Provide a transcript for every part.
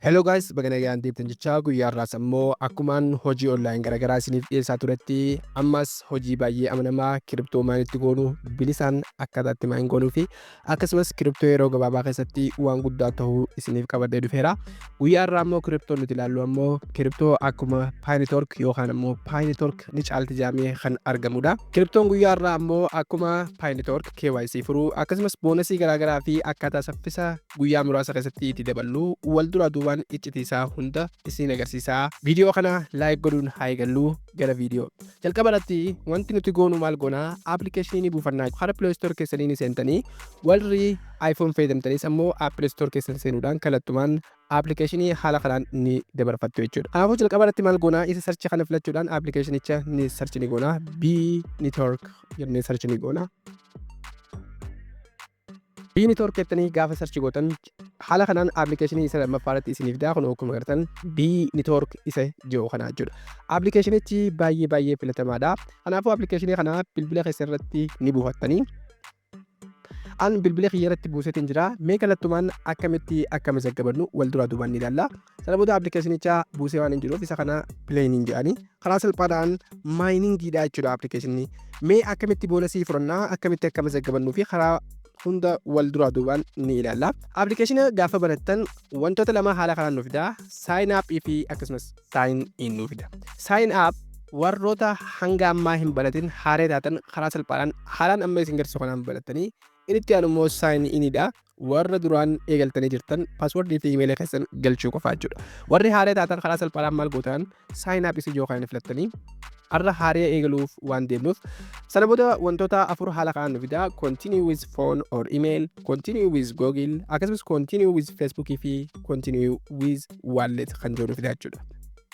Hello guys baga nagaan deebtan jechaa guyyaa har'aas ammoo akkumaan hojii online garaagaraa isiniif dhiyeessaa turetti ammas hojii baay'ee amanamaa kiriptoo maal itti goonu bilisaan akkaataa itti maayin goonuu fi akkasumas kiriptoo yeroo gabaabaa keessatti waan guddaa ta'uu isiniif qabadhee dhufeera guyyaa har'aa ammoo kiriptoo nuti ilaallu ammoo kiriptoo akkuma paayinitork yookaan ammoo paayinitork ni caalti jaamee kan argamudha kiriptoon guyyaa har'aa ammoo akkuma paayinitork KYC furuu akkasumas boonasii garaagaraa fi akkaataa saffisa guyyaa muraasa keessatti itti daballu wal duraa duubaan iccitii isaa hunda isiin agarsiisa. Viidiyoo kana laayik godhuun haa eegallu gara viidiyoo. Jalqaba irratti wanti nuti goonu maal goona appilikeeshinii buufannaa hara Play Store keessanii ni seentanii warri iPhone fayyadamtanis ammoo Apple Store keessan seenuudhaan kallattumaan appilikeeshinii haala kanaan ni dabarfattu jechuudha. Kanaafuu jalqaba irratti maal goona isa sarchi kana filachuudhaan appilikeeshinicha ni sarchi ni goona B network jennee sarchi ni goona. Biyyi network jettanii gaafa search gootan haala kanaan application isa lammaffaa irratti isiniif daa kun akkuma agartan biyyi network isa jiru kana jechuudha. Applicationichi baay'ee baay'ee filatamaadha. Kanaafuu application kana bilbila keessa irratti ni buufattanii an bilbila kiyya irratti buuseetiin jira mee kallattumaan akkamitti akka mazaggabannu wal duraa duubaan ni ilaalla. Sana booda appilikeeshinicha buusee waan hin jiruuf isa kana pileeniin jedhani karaa salphaadhaan maayiningiidha jechuudha appilikeeshinni. Mee akkamitti boonasii fudhannaa akkamitti akka mazaggabannuu fi karaa hunda wal duraa duubaan ni ilaalla. Appilikeeshina gaafa banattan wantoota lama haala kanaan nu fida. Sign up fi akkasumas sign in nu fida. Sign up warroota hanga ammaa hin banatin haaree taatan karaa salphaadhaan haalaan amma isin garsiisu kanaan banattanii Inni itti aanu immoo sign in dha. Warra duraan eegaltanii jirtan password fi email keessan galchuu qofaa jechuudha. Warri haaree taatan karaa salphaadhaan maal gootaan sign up isin yookaan filattanii har'a haaree eegaluuf waan deemnuuf sana booda wantoota afur haala kanaan nu fidaa continue with phone or email continue with google akkasumas continue with facebook fi continue with wallet kan jiru nu fidaa jechuudha.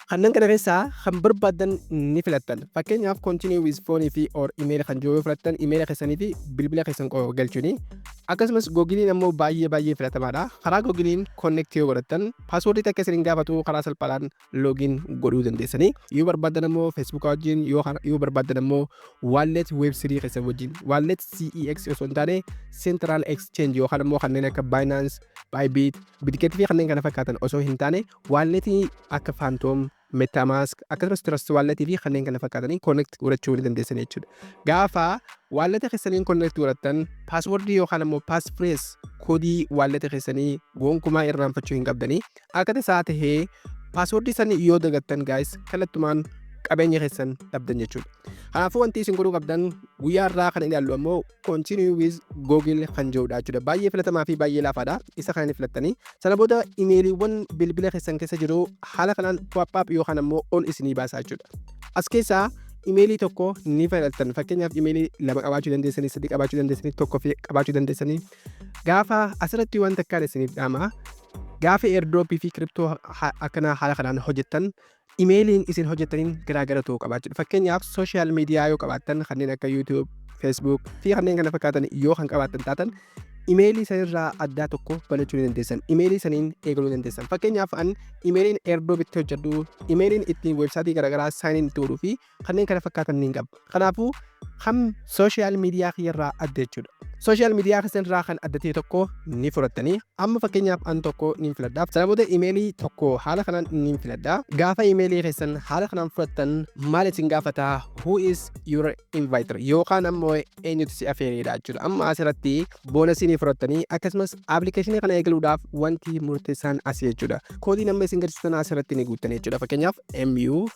Kanneen kana keessaa kan barbaadan ni filattan. Fakkeenyaaf continue with phone fi or email kan jiru yoo filattan email keessanii fi bilbila keessan qofa galchuuni. Akkasumas googiliin ammoo baay'ee baay'ee filatamaadha. Karaa googiliin connect yoo godhattan paaswoordii takka isin hin gaafatu karaa salphaadhaan loogiin godhuu dandeessanii. Yoo barbaadan ammoo Facebook wajjin yoo kan- yoo barbaadan ammoo wallet web3 keessan wajjin wallet CEX osoo hin taane central exchange yookaan ammoo kanneen akka Binance, Bybit, Bitget fi kanneen kana fakkaatan osoo hin taane Waalletii akka Phantom, Metamask, akkasumas Trust Wallet fi kanneen kana fakkaataniin connect godhachuu ni dandeessani jechuudha. Gaafa waalletii keessaniin connect godhattan password yookaan ammoo passphrase koodii waalletii keessanii gonkumaa irraanfachuu hin qabdanii. Akka tasaa tahee password san yoo dagattan guys kallattumaan qabeenya keessan dhabdan jechuudha. Kanaafuu wanti isin godhuu qabdan guyyaa irraa kan ilaallu ammoo continue with google kan jedhudha jechuudha baay'ee filatamaa fi baay'ee laafaadha isa kana ni filattanii sana booda imeeliiwwan bilbila keessan keessa jiru haala kanaan pop-up yookaan ammoo ol isinii baasaa jechuudha as keessaa imeelii tokko ni filattan fakkeenyaaf imeelii lama qabaachuu dandeessanii sadii qabaachuu dandeessanii tokko fi qabaachuu dandeessanii gaafa asirratti waan takkaan isiniif dhaama gaafa airdrop fi kiriptoo akkanaa haala kanaan hojjettan Imeeliin isin hojjettaniin garaagara ta'uu qaba jechuudha. Fakkeenyaaf sooshaal miidiyaa yoo qabaattan kanneen akka YouTube, Facebook fi kanneen kana fakkaatan yoo kan qabaattan taatan imeelii sanirraa addaa tokko banachuu ni dandeessan. Imeelii saniin eegaluu ni dandeessan. Fakkeenyaaf an imeeliin Airdrop itti hojjedhu, imeeliin ittiin weebsaayitii garaagaraa saayiniin itti godhuu fi kanneen kana fakkaatan niin qaba. Kanaafuu kan sooshaal miidiyaa kiyyarraa adda jechuudha. Sooshaal miidiyaa keessanirraa kan adda ta'e tokko ni fudhattanii amma fakkeenyaaf an tokko niin filadha. Sana booda imeelii tokko haala kanaan niin filadha. Gaafa imeelii keessan haala kanaan fudhattan maal isin gaafata who is your inviter yookaan ammoo eenyutu si afeereedha jechuudha. Amma asirratti boonasii ni fudhattanii akkasumas appilikeeshinii kana eegaluudhaaf wanti murteessaan asii jechuudha. Koodiin amma isin gadsiisan asirratti ni guuttan jechuudha. Fakkeenyaaf MU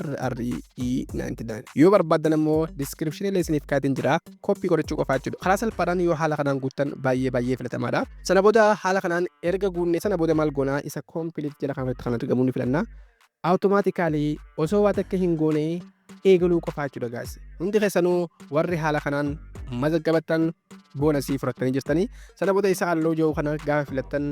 RRE99 yoo barbaadan ammoo diskiripshinii illee isiniif kaatiin jira koppii godhachuu qofaa jechuudha karaa salphaadhaan yoo haala kanaan guuttan baay'ee baay'ee filatamaadha sana booda haala kanaan erga guunnee sana booda maal goonaa isa koompiliit jala kanarratti kan argamu ni filanna awutomaatikaalii osoo waa takka hin goone eegaluu qofaa jechuudha gaasi hundi keessanuu warri haala kanaan mazaggabattan boonasii fudhattanii jirtanii sana booda isa halluu jiru kana gaafa filattan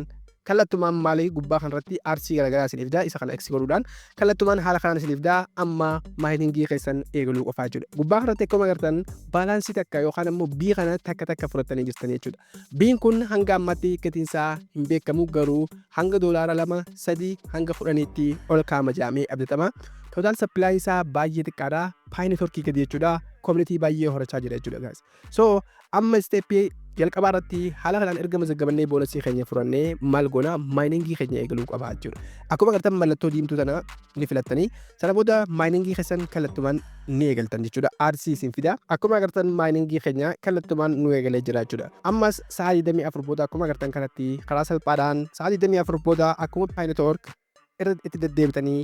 kallattumaan maali gubbaa kanarratti aartsii garaagaraa isin ifdaa isa kana x godhuudhaan kallattumaan haala kanaan isin ifdaa amma maayitingii keessan eegaluu qofaa jechuudha gubbaa kanarratti akkuma agartan baalaansii takka yookaan ammoo bii kana takka takka fudhattanii jirtanii jechuudha biin kun hanga ammatti gatiinsaa hin beekamu garuu hanga doolaara lama sadii hanga kudhaniitti ol kaama jaamee abdatama tootaal sappilaayinsaa baay'ee xiqqaadha paayini torkii gadi jechuudha koominitii baay'ee horachaa jira jechuudha gaas So amma step jalqabaa irratti haala kanaan erga mazaggabannee boonasii keenya furannee maal goona maayiningii keenya eegaluu qaba jechuudha. Akkuma agartan mallattoo diimtuu tana ni filattanii sana booda maayiningii keessan kallattumaan ni eegaltan jechuudha. Aarsii isin fida. Akkuma agartan maayiningii keenya kallattumaan nu eegalee jira jechuudha. Ammas sa'a 24 booda akkuma agartan kanatti karaa salphaadhaan sa'a 24 booda akkuma paayinetoork irra itti deddeebitanii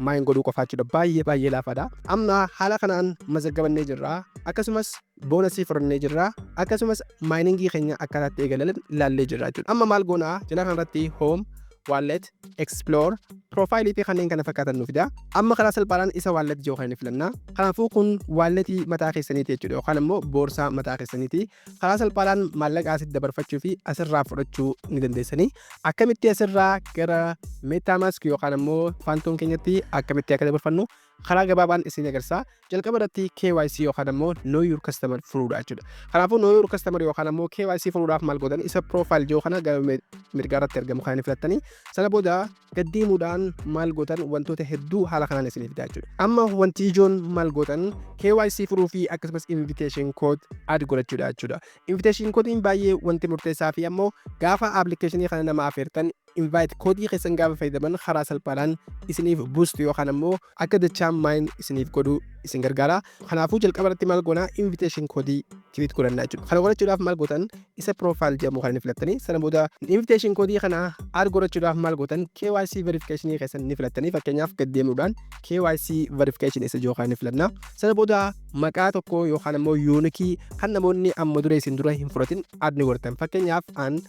maayin godhuu qofaa jechuudha baay'ee baay'ee laafaadha amma haala kanaan mazaggabannee jirra akkasumas boonasii fudhannee jirra akkasumas maayiningii keenya akkaataatti eegalan ilaallee jirra jechuudha amma maal goonaa jalaa kanarratti home wallet explore profile fi kanneen kana fakkaatan nu fida amma karaa salphaadhaan isa wallet jiru kan filanna kanaafuu kun walletii mataa keessaniiti jechuudha yookaan immoo boorsaa mataa keessaniiti Karaa salphaadhaan maallaqa asitti dabarfachuu fi asirraa fudhachuu ni dandeessanii. Akkamitti asirraa gara MetaMask yookaan ammoo Phantom keenyatti akkamitti akka dabarfannu karaa gabaabaan isin agarsiisa. Jalqaba irratti KYC yookaan ammoo Know Your Customer furuudha jechuudha. Kanaafuu Know Your Customer yookaan ammoo KYC furuudhaaf maal gootan isa profile jiru kana gara mirgaa irratti argamu kan filattanii sana booda Gad deemuudhaan maal gootan wantoota hedduu haala kanaan isinii fidaa jechuudha. Amma wanti ijoon maal gootan KYC furuu fi akkasumas invitation code add godhachuudha jechuudha. Invitation code baay'ee wanti murteessaa fi ammoo gaafa application kana nama afeertan invite code keessan gaafa fayyadaman karaa salphaadhaan isiniif boost yookaan ammoo akka dachaan mine isiniif godhu isin gargaara kanaafuu jalqaba irratti maal goona invitation code create godhanna jechuudha kana godhachuudhaaf maal gootan isa profile jedhamu kan inni filattanii sana booda invitation code kana add godhachuudhaaf maal gootan KYC verification keessan ni filattanii fakkeenyaaf gad deemuudhaan KYC verification isa jiru kan inni filanna sana booda maqaa tokko yookaan immoo yuunikii kan namoonni amma dura isin dura hin fudhatin add ni godhatan fakkeenyaaf an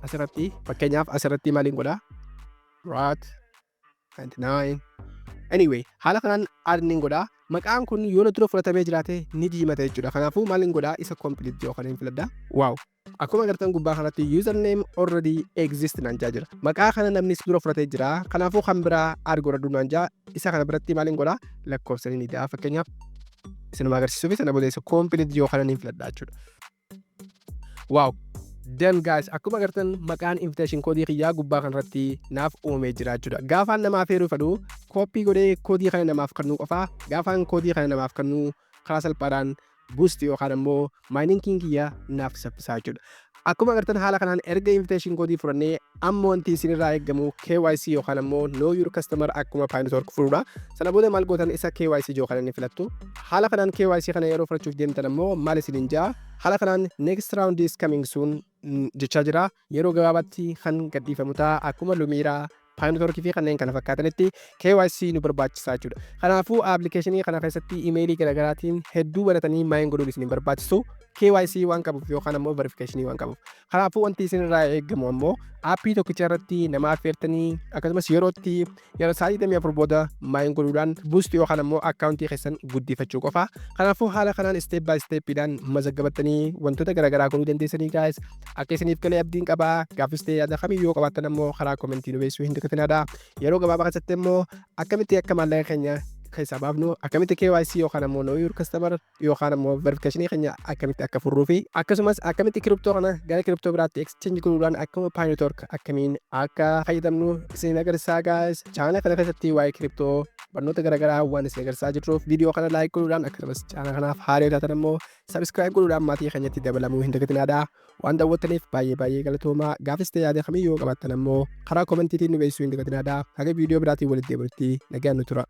asirratti fakkeenyaaf asirratti maaliin godha rat 29 anyway haala kanaan add nin godha maqaan kun yoo na dura fudhatamee jiraate ni diimata jechuudha kanaafuu maal hin godha isa complete yoo kan hin filadha waaw akkuma agartan gubbaa kanatti username already exist naan jaa jira maqaa kana namni si dura fudhatee jira kanaafuu kan biraa add godhadhu naan jaa isa kana biratti maal hin godha lakkoofsa ni da'a fakkeenyaaf isinuma agarsiisuuf sana booda isa complete yoo kana hin filadha jechuudha Wow! Done guys! Akkuma agartan maqaan invitation code kiyyaa gubbaa kanarratti naaf uumamee jira jechuudha. Gaafaan namaa feeruu fedhu copy godhee koodii kana namaaf kennuu qofa. Gaafaan koodii kana namaaf kennuu karaa salphaadhaan boost yookaan ammoo maayininkiin kiyya naaf saffisaa jechuudha. Akkuma agartan haala kanaan erga invitation code fudhannee Amma wanti isin irraa eegamu KYC yookaan ammoo Know Your Customer akkuma Pinetork furuudha. Sana booda maal gootan isa KYC jiru kana ni filattu. Haala kanaan KYC kana yeroo fudhachuuf deemtan ammoo maal isiniin ja'a? Haala kanaan next round is coming soon jechaa jira. Yeroo gabaabaatti kan gadhiifamu ta'a akkuma Lumiira Pinetork fi kanneen kana fakkaatanitti KYC nu barbaachisaa jechuudha. Kanaafuu appilikeeshinii kana keessatti imeelii garaagaraatiin hedduu banatanii maayin godhuun isin hin barbaachisu. KYC waan qabuuf yookaan ammoo verifikeeshinii waan qabuuf. Kanaafuu wanti isin irraa eegamu ammoo aappii tokkicha irratti nama affeertanii akkasumas yerootti yeroo sa'aatii 24 booda maayin godhuudhaan buusti yookaan ammoo akkaawuntii keessan guddifachuu qofa. Kanaafuu haala kanaan isteep baay isteeppiidhaan mazaggabattanii wantoota garaagaraa godhuu dandeessanii gaayis. Akka isiniif galee abdiin qaba. Gaafis ta'ee yaada kamii yoo qabaattan ammoo karaa komentii nu beeksisuu hin dagatinaa. Yeroo gabaabaa keessatti ammoo akkamitti akka maallaqa keenya keessaa baafnu akkamitti KYC yookaan ammoo Know Your Customer yookaan ammoo verification keenya akkamitti akka furruu fi akkasumas akkamitti kiriptoo kana gara kiriptoo biraatti exchange godhuudhaan akkuma paayinotork akkamiin akka fayyadamnu isin agarsiisaa gaayis chaanala kana keessatti waa'ee kiriptoo barnoota garaagaraa waan isin agarsiisaa jirruuf viidiyoo kana laayik godhuudhaan akkasumas chaanala kanaaf haaraa yoo taatan ammoo sabiskiraayib godhuudhaan maatii keenyatti dabalamuu hin dagatinaadha waan daawwattaniif baay'ee baay'ee galatoomaa gaafis ta'e yaada kamiyyuu qabaattan ammoo karaa koomentiitiin nu beeksisuu hin dagatinaadha haga viidiyoo biraatiin walitti deebinutti nagaan nu tura.